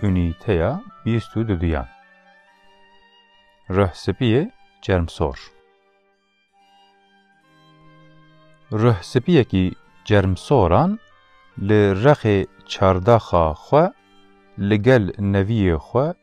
Unîteya bîst û duduyan Rih spî yê çermsor Rih spîyekî çermsoran li rexê çardaxa xwe li gel neviyê xwe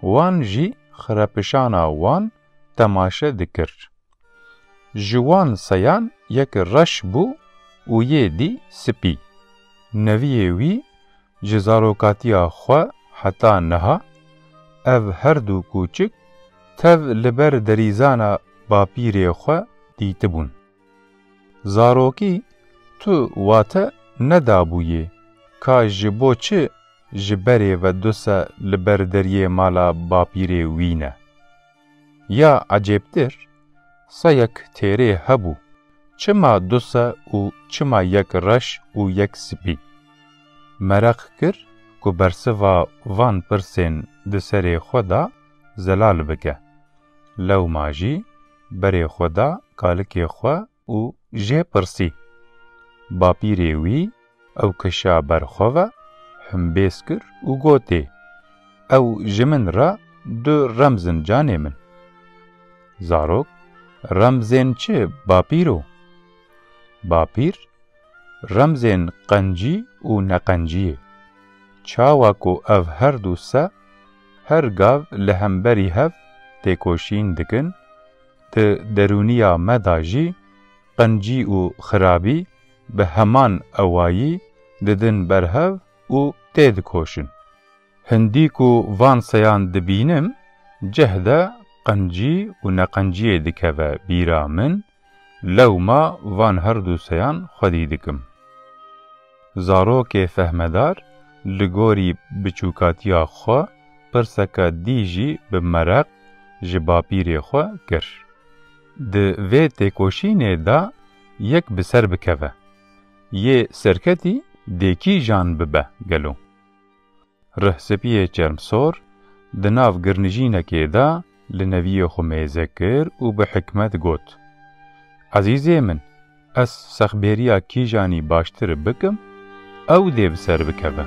Wan jî xirepişana wan temaşe dikir. Ji wan seyan yek reş bû û yê dî spî. Neviyê wî ji zarokatiya xwe heta niha ev her du kûçik tev li ber derîzana bapîrê xwe dîtibûn. Zarokî tu wate nedabûyê ka ji bo çi ji berê ve du se li ber deriyê mala bapîrê wî ne. Ya ecêbtir, seyek têrê hebû, çima du se û çima yek reş û yek spî. Mereq kir ku bersiva van pirsên di serê xwe de zelal bike. Lewma jî berê xwe da kalikê xwe û jê pirsî. Bapîrê wî ew kişa ber xwe ve, humbêz kir û gotê, Ew ji min re du remz in canê min. Zarok, Remzên çi bapîro? Bapîr, Remzên qencî û neqenciyê. Çawa ku ev herdu se Her gav li hemberî hev têkoşîn dikin, di derûniya me da jî qencî û xirabî bi heman ewayî didin ber hev û têdikoşin. Hindî ku van seyan dibînim, cehde qencî û neqenciyê dikeve bîra min, Lewma van herdû seyan xwedî dikim. Zarokê fehmedar li gorî biçûkatiya xwe pirseke dî jî bi mereq ji bapîrê xwe kir. Di vê têkoşînê de yek bi ser bikeve. Yê serketî dê kîjan bibe gelo? Rihsipiyê Çermsor di nav girnijînekê de li neviyê xwe mêze kir û bi hikmet got, Ezîzê min, ez sexbêriya kîjanî baştir bikim, ew dê bi ser bikeve.